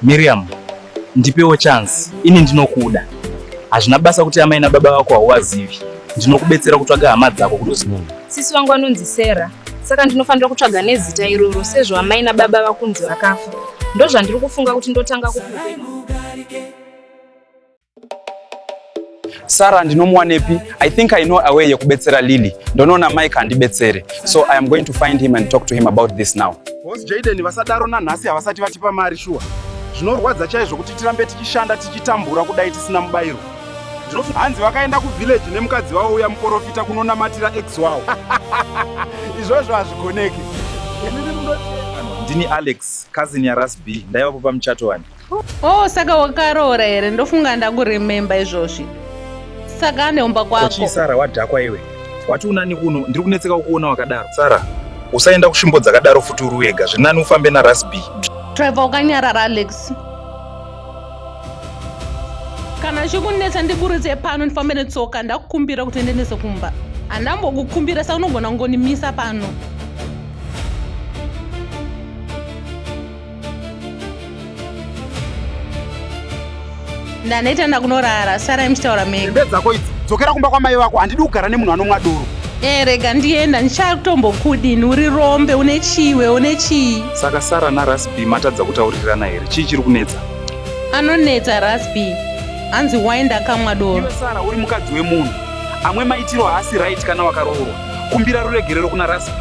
Miriam, ndipewo chance ini ndinokuda. Hazvina basa kuti amai nababa vako hauvazivi. Ndinokubetsera kutsvaga hama dzako kudoziva. Hmm. Sisi wangu anonzi Sarah, saka ndinofanira kutsvaga nezita iroro sezvo amai nababa vakunzi vakafa. Ndozvandiri kufunga kuti ndotanga kukuve. Sarah ndinomuwanepi? I think I know a way yekubetsera Lily. Ndonoona Mike andibetsere. So I am going to find him and talk to him about this now. Boss Jaden vasadaro nanhasi havasati vatipa mari shuwa. Zvinorwadza chaizvo kuti tirambe tichishanda tichitambura kudai tisina mubairo. Ndinofi hanzi vakaenda kuvillage nemukadzi wavo uya muporofita kunonamatira ex wavo. Izvozvo hazvigoneki. Ndini Alex, cousin yaRasb. Ndaivapo pamuchato wani. Oh, saka wakaroora here? Ndofunga ndakurememba izvozvi. Saka aneumba kwako. Kochi Sara wadhakwa iwe. Wati unani kuno, ndiri kunetseka kukuona wakadaro. Sara, usaenda kusvimbo dzakadaro futi uri wega. Zvinani ufambe na Rasby. Trevor ukanyarara Alex. Kana chikunetsa ndiburitse pano ndifambe netsoka ndakukumbira kuti ndendese kumba. Andambokukumbira saka unogona kungonimisa pano. ndaneta ndakunorara sarai muchitaura mega hembe dzako idzi dzokera kumba kwamai vako handidi kugara nemunhu anomwa doro e rega ndienda ndichatombokudini uri rombe une chiwe une chii saka sara narasb matadza kutaurirana here chii chiri kunetsa anonetsa rasb hanzi wai ndakamwa doro sara uri mukadzi wemunhu amwe maitiro haasi right kana wakaroorwa kumbira ruregerero kuna rasb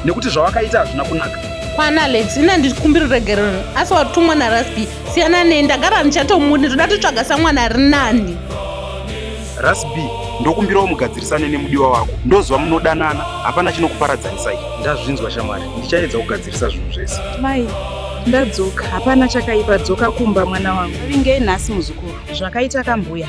nekuti zvawakaita hazvina kunaka kwana alex ina ndikumbira uregerero asi watumwa narasby siyana nei ndagara ndichatomune ndoda totsvaga samwana ari nani rasby ndokumbirawo mugadzirisane nemudiwa wako ndoziva munodanana hapana chinokuparadzanisai ndazvinzwa shamwari ndichaedza kugadzirisa zvinhu zvese mai ndadzoka hapana chakaipa dzoka kumba mwana wangu vingei nhasi muzukuru zvakaita kambuya